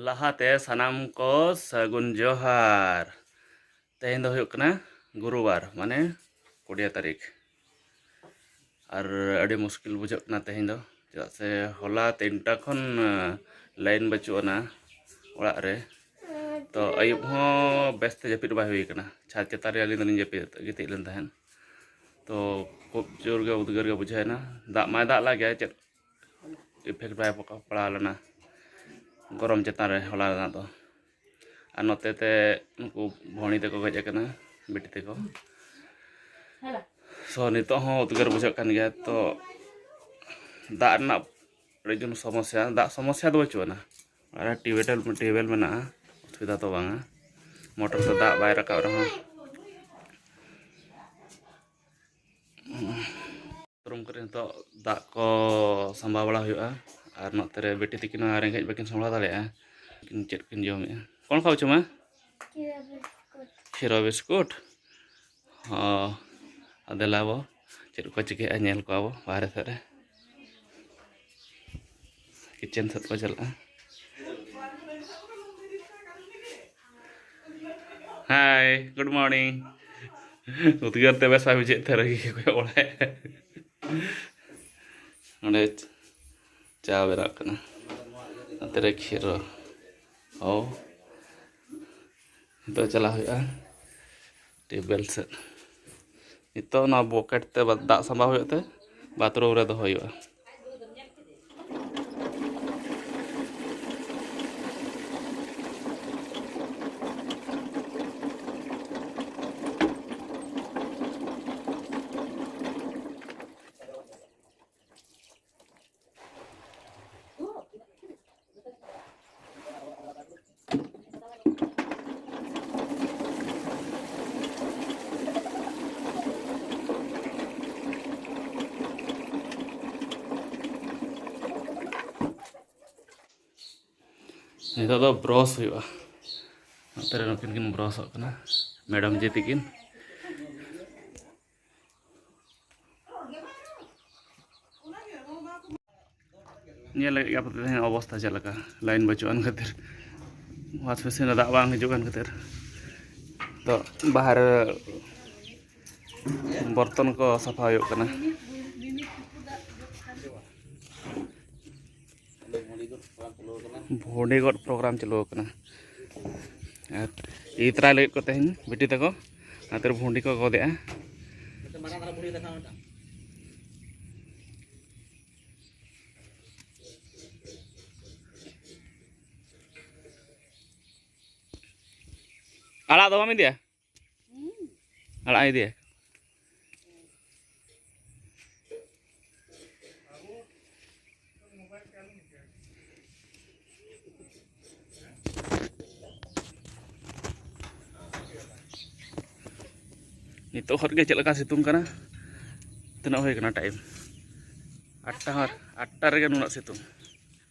ᱞᱟᱦᱟᱛᱮ ᱥᱟᱱᱟᱢ ᱠᱚ ᱥᱟᱹᱜᱩᱱ ᱡᱚᱦᱟᱨ ᱛᱮᱦᱮᱧ ᱫᱚ ᱦᱩᱭᱩᱜ ᱠᱟᱱᱟ ᱜᱩᱨᱩᱵᱟᱨ ᱢᱟᱱᱮ ᱠᱩᱲᱤᱭᱟ ᱛᱟᱹᱨᱤᱠᱷ ᱟᱨ ᱟᱹᱰᱤ ᱢᱩᱥᱠᱤᱞ ᱵᱩᱡᱷᱟᱹᱜ ᱠᱟᱱᱟ ᱛᱮᱦᱮᱧ ᱫᱚ ᱪᱮᱫᱟᱜ ᱥᱮ ᱦᱚᱞᱟ ᱛᱤᱱᱴᱟ ᱠᱷᱚᱱ ᱞᱟᱭᱤᱱ ᱵᱟᱹᱪᱩᱜ ᱟᱱᱟ ᱚᱲᱟᱜ ᱨᱮ ᱛᱚ ᱟᱹᱭᱩᱵ ᱦᱚᱸ ᱵᱮᱥᱛᱮ ᱡᱟᱹᱯᱤᱫ ᱵᱟᱭ ᱦᱩᱭ ᱠᱟᱱᱟ ᱪᱷᱟᱫᱽ ᱪᱮᱛᱟᱱ ᱨᱮ ᱟᱹᱞᱤᱧ ᱫᱚᱞᱤᱧ ᱡᱟᱹᱯᱤᱫ ᱜᱤᱛᱤᱡ ᱞᱮᱱ ᱛᱟᱦᱮᱸᱫ ᱛᱚ ᱠᱷᱩᱵ ᱡᱳᱨ ᱜᱮ ᱩᱫᱽᱜᱟᱹᱨ ᱜᱮ ᱵᱩᱡᱷᱟᱹᱣᱮᱱᱟ ᱫᱟᱜ ᱢᱟᱭ ᱫᱟᱜ ᱞᱟᱜᱮ ᱪᱮᱫ ᱤᱯᱷᱮᱠᱴ ᱵᱟᱭ ᱯᱟᱲᱟᱣ ᱞᱮᱱᱟ ᱜᱚᱨᱚᱢ ᱪᱮᱛᱟᱱ ᱨᱮ ᱦᱚᱞᱟ ᱨᱮᱱᱟᱜ ᱫᱚ ᱟᱨ ᱱᱚᱛᱮ ᱛᱮ ᱩᱱᱠᱩ ᱵᱷᱚᱬᱤ ᱛᱮᱠᱚ ᱜᱚᱡ ᱟᱠᱟᱱᱟ ᱵᱤᱴᱤ ᱛᱮᱠᱚ ᱥᱚ ᱱᱤᱛᱚᱜ ᱦᱚᱸ ᱩᱫᱽᱜᱟᱹᱨ ᱵᱩᱡᱷᱟᱹᱜ ᱠᱟᱱ ᱜᱮᱭᱟ ᱛᱚ ᱫᱟᱜ ᱨᱮᱱᱟᱜ ᱟᱹᱰᱤ ᱡᱳᱨ ᱥᱚᱢᱚᱥᱥᱟ ᱫᱟᱜ ᱥᱚᱢᱚᱥᱥᱟ ᱫᱚ ᱵᱟᱹᱪᱩᱜ ᱟᱱᱟ ᱟᱨ ᱴᱤᱭᱩᱵᱮᱞ ᱴᱤᱭᱩᱵᱮᱞ ᱢᱮᱱᱟᱜᱼᱟ ᱚᱥᱩᱵᱤᱫᱷᱟ ᱫᱚ ᱵᱟᱝᱟ ᱢᱚᱴᱚᱨ ᱛᱮ ᱫᱟᱜ ᱵᱟᱭ ᱨᱟᱠᱟᱵ ᱨᱮᱦᱚᱸ ᱨᱩᱢ ᱠᱚᱨᱮ ᱱᱤᱛᱚᱜ ᱫᱟᱜ ᱠᱚ ᱥᱟᱢᱵᱟᱣ ᱵᱟᱲᱟ ᱦᱩᱭᱩᱜᱼᱟ ᱟᱨ ᱱᱚᱛᱮ ᱨᱮ ᱵᱤᱴᱤ ᱛᱟᱹᱠᱤᱱ ᱦᱚᱸ ᱨᱮᱸᱜᱮᱡ ᱵᱟᱹᱠᱤᱱ ᱥᱟᱢᱵᱲᱟᱣ ᱫᱟᱲᱮᱭᱟᱜᱼᱟ ᱠᱤᱱ ᱪᱮᱫ ᱠᱤᱱ ᱡᱚᱢᱮᱜᱼᱟ ᱠᱚᱱ ᱠᱷᱟᱣ ᱪᱚᱢᱟ ᱠᱷᱤᱨᱟ ᱵᱤᱥᱠᱩᱴ ᱦᱚᱸ ᱟᱫᱮᱞᱟ ᱵᱚ ᱪᱮᱫ ᱠᱚ ᱪᱤᱠᱟᱹᱭᱮᱜᱼᱟ ᱧᱮᱞ ᱠᱚᱣᱟ ᱵᱚ ᱵᱟᱦᱨᱮ ᱥᱮᱫ ᱨᱮ ᱠᱤᱪᱮᱱ ᱥᱮᱫ ᱠᱚ ᱪᱟᱞᱟᱜᱼᱟ ᱦᱟᱭ ᱜᱩᱰ ᱢᱚᱨᱱᱤᱝ ᱩᱫᱽᱜᱟᱹᱨ ᱛᱮ ᱵᱮᱥ ᱵᱟᱭ ᱵᱩᱡᱷᱟᱹᱜ ᱛᱮ ᱨᱟᱹᱜᱤ ᱜᱮ ᱠᱚᱭᱚᱜ ᱵᱟᱲᱟᱭ ᱚᱸᱰᱮ ᱪᱟ ᱵᱮᱱᱟᱜ ᱠᱟᱱᱟ ᱱᱚᱛᱮ ᱨᱮ ᱠᱷᱤᱨᱚ ᱚ ᱱᱤᱛᱚᱜ ᱪᱟᱞᱟᱜ ᱦᱩᱭᱩᱜᱼᱟ ᱴᱤᱭᱩᱵᱽᱣᱮᱞ ᱥᱮᱫ ᱱᱤᱛᱚᱜ ᱱᱚᱣᱟ ᱵᱚᱠᱮᱴ ᱛᱮ ᱫᱟᱜ ᱥᱟᱢᱵᱟᱣ ᱦᱩᱭᱩᱜ ᱛᱮ ᱵᱟᱛᱷᱨᱩᱢ ᱨᱮ ᱫᱚᱦᱚ ᱦᱩᱭᱩᱜᱼᱟ ᱱᱤᱛᱚᱜ ᱫᱚ ᱵᱨᱚᱥ ᱦᱩᱭᱩᱜᱼᱟ ᱱᱚᱛᱮ ᱨᱮ ᱱᱩᱠᱤᱱ ᱠᱤᱱ ᱵᱨᱚᱥᱚᱜ ᱠᱟᱱᱟ ᱢᱮᱰᱟᱢ ᱡᱤ ᱛᱤᱠᱤᱱ ᱧᱮᱞ ᱞᱟᱹᱜᱤᱫ ᱟᱯᱮ ᱛᱮᱦᱮᱧ ᱚᱵᱚᱥᱛᱟ ᱪᱮᱫ ᱞᱮᱠᱟ ᱞᱟᱭᱤᱱ ᱵᱟᱹᱪᱩᱜ ᱟᱱ ᱠᱷᱟᱹᱛᱤᱨ ᱚᱣᱟᱥ ᱢᱮᱥᱤᱱ ᱨᱮ ᱫᱟᱜ ᱵᱟᱝ ᱦᱤᱡᱩᱜ ᱠᱟᱱ ᱠᱷᱟᱹᱛᱤᱨ ᱛᱚ ᱵᱟᱦᱨᱮ ᱵᱚᱨᱛᱚᱱ ᱠᱚ ᱥᱟᱯᱷᱟ ᱦᱩᱭᱩᱜ ᱠᱟᱱᱟ ᱵᱷᱩᱰᱤ ᱜᱚᱫ ᱯᱨᱳᱜᱨᱟᱢ ᱪᱟᱹᱞᱩ ᱟᱠᱟᱱᱟ ᱟᱨ ᱤᱫᱤ ᱛᱚᱨᱟᱭ ᱞᱟᱹᱜᱤᱫ ᱠᱚ ᱛᱮᱦᱮᱧ ᱵᱤᱴᱤ ᱛᱟᱠᱚ ᱚᱱᱟᱛᱮ ᱵᱷᱩᱰᱤ ᱠᱚ ᱜᱚᱫᱮᱜᱼᱟ ᱟᱲᱟᱜ ᱫᱚ ᱵᱟᱢ ᱤᱫᱤᱭᱟ ᱟᱲᱟᱜ ᱤᱫᱤᱭᱟ ᱱᱤᱛᱚᱜ ᱦᱚᱨ ᱜᱮ ᱪᱮᱫ ᱞᱮᱠᱟ ᱥᱤᱛᱩᱝ ᱠᱟᱱᱟ ᱛᱤᱱᱟᱹᱜ ᱦᱩᱭ ᱠᱟᱱᱟ ᱴᱟᱭᱤᱢ ᱟᱴᱴᱟ ᱦᱚᱨ ᱟᱴᱴᱟ ᱨᱮᱜᱮ ᱱᱩᱱᱟᱹᱜ ᱥᱤᱛᱩᱝ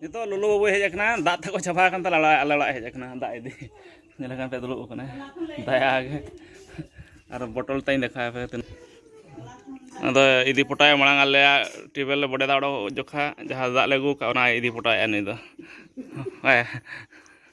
ᱱᱤᱛᱚᱜ ᱞᱚᱞᱚ ᱵᱟᱵᱩᱭ ᱦᱮᱡ ᱟᱠᱟᱱᱟ ᱫᱟᱜ ᱛᱟᱠᱚ ᱪᱟᱵᱟ ᱟᱠᱟᱱ ᱛᱟᱞᱮ ᱟᱞᱮ ᱚᱲᱟᱜ ᱦᱮᱡ ᱟᱠᱟᱱᱟ ᱫᱟᱜ ᱤᱫᱤ ᱧᱮᱞ ᱟᱠᱟᱱ ᱯᱮ ᱫᱩᱲᱩᱵ ᱟᱠᱟᱱᱟ ᱫᱟᱭᱟ ᱜᱮ ᱟᱨ ᱵᱚᱴᱚᱞ ᱛᱟᱹᱧ ᱫᱮᱠᱷᱟᱣ ᱯᱮ ᱛᱤᱱᱟᱹᱜ ᱟᱫᱚ ᱤᱫᱤ ᱯᱚᱴᱟᱭ ᱢᱟᱲᱟᱝ ᱟᱞᱮᱭᱟᱜ ᱴᱮᱵᱮᱞ ᱞᱮ ᱵᱚᱰᱮ ᱫᱟᱜ ᱚᱰᱚᱠ ᱡᱚᱠᱷᱟ ᱡᱟᱦᱟᱸ ᱫᱟᱜ ᱞᱮ ᱟᱹᱜᱩ ᱠᱟᱜ ᱚᱱᱟᱭ ᱤᱫᱤ ᱯᱚᱴᱟᱭᱮᱫᱼᱟ ᱱᱩᱭ ᱫᱚ ᱦᱮᱸ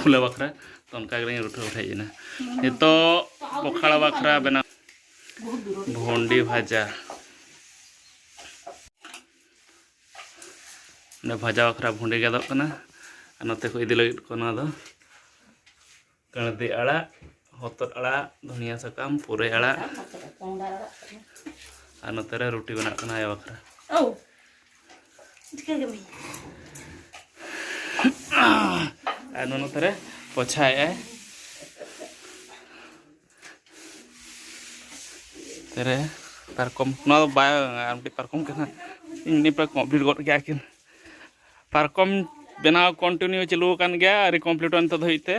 ᱯᱷᱩᱞᱟᱹ ᱵᱟᱠᱷᱨᱟ ᱛᱚ ᱚᱱᱠᱟ ᱜᱮᱞᱤᱧ ᱨᱩᱴᱷᱟᱹ ᱦᱮᱡ ᱮᱱᱟ ᱱᱤᱛᱚᱜ ᱯᱚᱠᱷᱟᱲ ᱵᱟᱠᱷᱨᱟ ᱵᱮᱱᱟᱣ ᱵᱷᱚᱱᱰᱤ ᱵᱷᱟᱡᱟ ᱚᱸᱰᱮ ᱵᱷᱟᱡᱟ ᱵᱟᱠᱷᱨᱟ ᱵᱷᱚᱱᱰᱤ ᱜᱮᱫᱚᱜ ᱠᱟᱱᱟ ᱟᱨ ᱱᱚᱛᱮ ᱠᱚ ᱤᱫᱤ ᱞᱟᱹᱜᱤᱫ ᱠᱚ ᱱᱚᱣᱟ ᱫᱚ ᱠᱟᱹᱬᱫᱤ ᱟᱲᱟᱜ ᱦᱚᱛᱚᱫ ᱟᱲᱟᱜ ᱫᱷᱩᱱᱤᱭᱟᱹ ᱥᱟᱠᱟᱢ ᱯᱩᱨᱟᱹᱭ ᱟᱲᱟᱜ ᱟᱨ ᱱᱚᱛᱮ ᱨᱮ ᱨᱩᱴᱤ ᱵᱮᱱᱟᱜ ᱠᱟᱱᱟ ᱟᱭᱳ ᱵᱟᱠᱷᱨᱟ ᱟᱨ ᱱᱩᱱᱩ ᱛᱟᱨᱮ ᱯᱚᱪᱷᱟᱭᱮᱜᱼᱟᱭ ᱛᱟᱨᱮ ᱯᱟᱨᱠᱚᱢ ᱱᱚᱣᱟ ᱫᱚ ᱵᱟᱭ ᱟᱨ ᱢᱤᱫᱴᱤᱡ ᱯᱟᱨᱠᱚᱢ ᱠᱟᱱᱟ ᱤᱧ ᱱᱤᱯᱟ ᱠᱚᱢᱯᱞᱤᱴ ᱜᱚᱫ ᱠᱮᱜᱼᱟ ᱠᱤᱱ ᱯᱟᱨᱠᱚᱢ ᱵᱮᱱᱟᱣ ᱠᱚᱱᱴᱤᱱᱤᱭᱩ ᱪᱟᱹᱞᱩ ᱟᱠᱟᱱ ᱜᱮᱭᱟ ᱟᱹᱣᱨᱤ ᱠᱚᱢᱯᱞᱤᱴᱚᱜᱼᱟ ᱱᱤᱛᱚᱜ ᱫᱷᱟᱹᱵᱤᱡ ᱛᱮ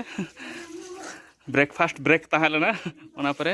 ᱵᱨᱮᱠᱯᱷᱟᱥᱴ ᱵᱨᱮᱠ ᱛᱟᱦᱮᱸ ᱞᱮᱱᱟ ᱚᱱᱟ ᱯᱚᱨᱮ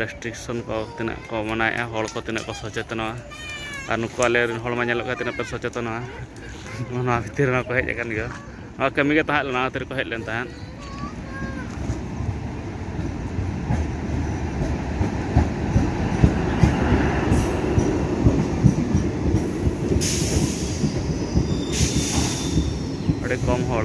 ᱨᱮᱥᱴᱨᱤᱠᱥᱚᱱ ᱠᱚ ᱛᱤᱱᱟᱹᱜ ᱠᱚ ᱢᱟᱱᱟᱣᱮᱫᱼᱟ ᱦᱚᱲ ᱠᱚ ᱛᱤᱱᱟᱹᱜ ᱠᱚ ᱥᱚᱪᱮᱛᱚᱱᱚᱜᱼᱟ ᱟᱨ ᱱᱩᱠᱩ ᱟᱞᱮ ᱨᱮᱱ ᱦᱚᱲ ᱢᱟ ᱧᱮᱞᱚᱜ ᱠᱟᱱᱟ ᱛᱤᱱᱟᱹᱜ ᱠᱚ ᱥᱚᱪᱮᱛᱚᱱᱚᱜᱼᱟ ᱚᱱᱟ ᱠᱷᱟᱹᱛᱤᱨ ᱨᱮᱦᱚᱸ ᱠᱚ ᱦᱮᱡ ᱟᱠᱟᱱ ᱜᱮᱭᱟ ᱱᱚᱣᱟ ᱠᱟᱹᱢᱤ ᱜᱮ ᱛᱟᱦᱮᱸ ᱞᱮᱱᱟ ᱚᱱᱟ ᱠᱷᱟᱹᱛᱤᱨ ᱠᱚ ᱦᱮᱡ ᱞᱮᱱ ᱛᱟᱦᱮᱸᱫ ᱟᱹᱰᱤ ᱠᱚᱢ ᱦᱚᱲ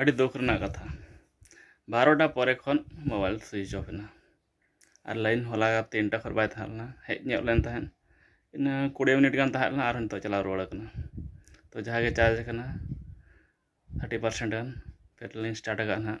ᱟᱹᱰᱤ ᱫᱩᱠ ᱨᱮᱱᱟᱜ ᱠᱟᱛᱷᱟ ᱵᱟᱨᱚᱴᱟ ᱯᱚᱨᱮ ᱠᱷᱚᱱ ᱢᱳᱵᱟᱭᱤᱞ ᱥᱩᱭᱤᱪ ᱚᱯᱷ ᱮᱱᱟ ᱟᱨ ᱞᱟᱭᱤᱱ ᱦᱚᱞᱟ ᱛᱤᱱᱴᱟ ᱠᱷᱚᱱ ᱵᱟᱭ ᱛᱟᱦᱮᱸ ᱞᱮᱱᱟ ᱦᱮᱡ ᱧᱚᱜ ᱞᱮᱱ ᱛᱟᱦᱮᱸᱫ ᱤᱱᱟᱹ ᱠᱩᱲᱤ ᱢᱤᱱᱤᱴ ᱜᱟᱱ ᱛᱟᱦᱮᱸ ᱞᱮᱱᱟ ᱟᱨᱦᱚᱸ ᱱᱤᱛᱚᱜ ᱪᱟᱞᱟᱣ ᱨᱩᱣᱟᱹᱲ ᱠᱟᱱᱟ ᱛᱚ ᱡᱟᱦᱟᱸ ᱜᱮ ᱪᱟᱨᱡᱽ ᱠᱟᱱᱟ ᱛᱷᱟᱨᱴᱤ ᱯᱟᱨᱥᱮᱱᱴ ᱜᱟᱱ ᱯᱷᱮᱨ ᱞᱤᱧ ᱥᱴᱟᱨᱴ ᱠᱟᱜᱼᱟ ᱦᱟᱸᱜ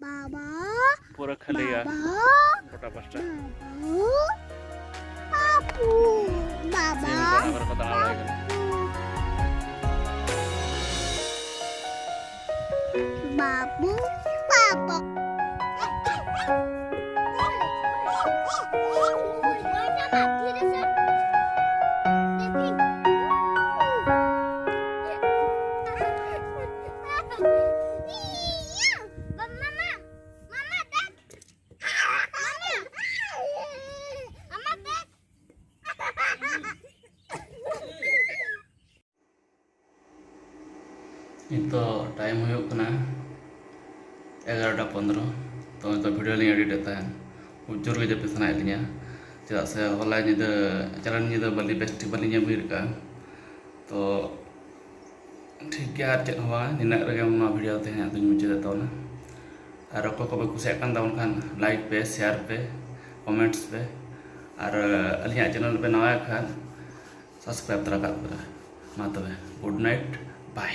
ᱵᱟᱵᱟ ᱯᱩᱨᱟᱹ ᱠᱷᱟᱹᱞᱤ ᱜᱮᱭᱟ ᱜᱚᱴᱟ ᱯᱟᱥᱴᱟ ᱵᱟᱵᱩ ᱵᱟᱵᱟ ᱵᱟᱵᱩ ᱵᱟᱵᱟ ᱱᱤᱛᱚᱜ ᱴᱟᱭᱤᱢ ᱦᱩᱭᱩᱜ ᱠᱟᱱᱟ ᱮᱜᱟᱨᱚᱴᱟ ᱯᱚᱱᱫᱨᱚ ᱛᱚ ᱱᱤᱛᱚᱜ ᱵᱷᱤᱰᱤᱭᱳ ᱞᱤᱧ ᱮᱰᱤᱴᱮᱫ ᱛᱟᱦᱮᱱ ᱡᱳᱨ ᱜᱮ ᱡᱟᱹᱯᱤᱫ ᱥᱟᱱᱟᱭᱮᱫ ᱞᱤᱧᱟ ᱪᱮᱫᱟᱜ ᱥᱮ ᱦᱚᱞᱟ ᱧᱤᱫᱟᱹ ᱪᱟᱞᱟᱣᱮᱱ ᱧᱤᱫᱟᱹ ᱵᱟᱹᱞᱤ ᱵᱮᱥᱴᱷᱤᱠ ᱵᱟᱹᱞᱤᱧ ᱧᱟᱢ ᱵᱮᱨᱮᱫ ᱠᱟᱜᱼᱟ ᱛᱚ ᱴᱷᱤᱠ ᱜᱮᱭᱟ ᱟᱨ ᱪᱮᱫ ᱦᱚᱸ ᱵᱟᱝ ᱱᱤᱱᱟᱹᱜ ᱨᱮᱜᱮ ᱱᱚᱣᱟ ᱵᱷᱤᱰᱤᱭᱳ ᱛᱮᱦᱮᱧᱟᱜ ᱫᱚᱧ ᱢᱩᱪᱟᱹᱫᱮᱫ ᱛᱟᱵᱚᱱᱟ ᱟᱨ ᱚᱠᱚᱭ ᱠᱚᱯᱮ ᱠᱩᱥᱤᱭᱟᱜ ᱠᱟᱱ ᱛᱟᱵᱚᱱ ᱠᱷᱟᱱ ᱞᱟᱭᱤᱠ ᱯᱮ ᱥᱮᱭᱟᱨ ᱯᱮ ᱠᱚᱢᱮᱱᱴᱥ ᱯᱮ ᱟᱨ ᱟᱹᱞᱤᱧᱟᱜ ᱪᱮᱱᱮᱞ ᱯᱮ ᱱᱟᱣᱟᱭ ᱠᱷᱟᱱ ᱥᱟᱵᱥᱠᱨᱟᱭᱤᱵᱽ ᱛᱚᱨᱟ ᱠᱟᱜ ᱯᱮ ᱢᱟ ᱛᱚᱵᱮ ᱜᱩᱰ ᱱᱟᱭᱤᱴ ᱵᱟᱭ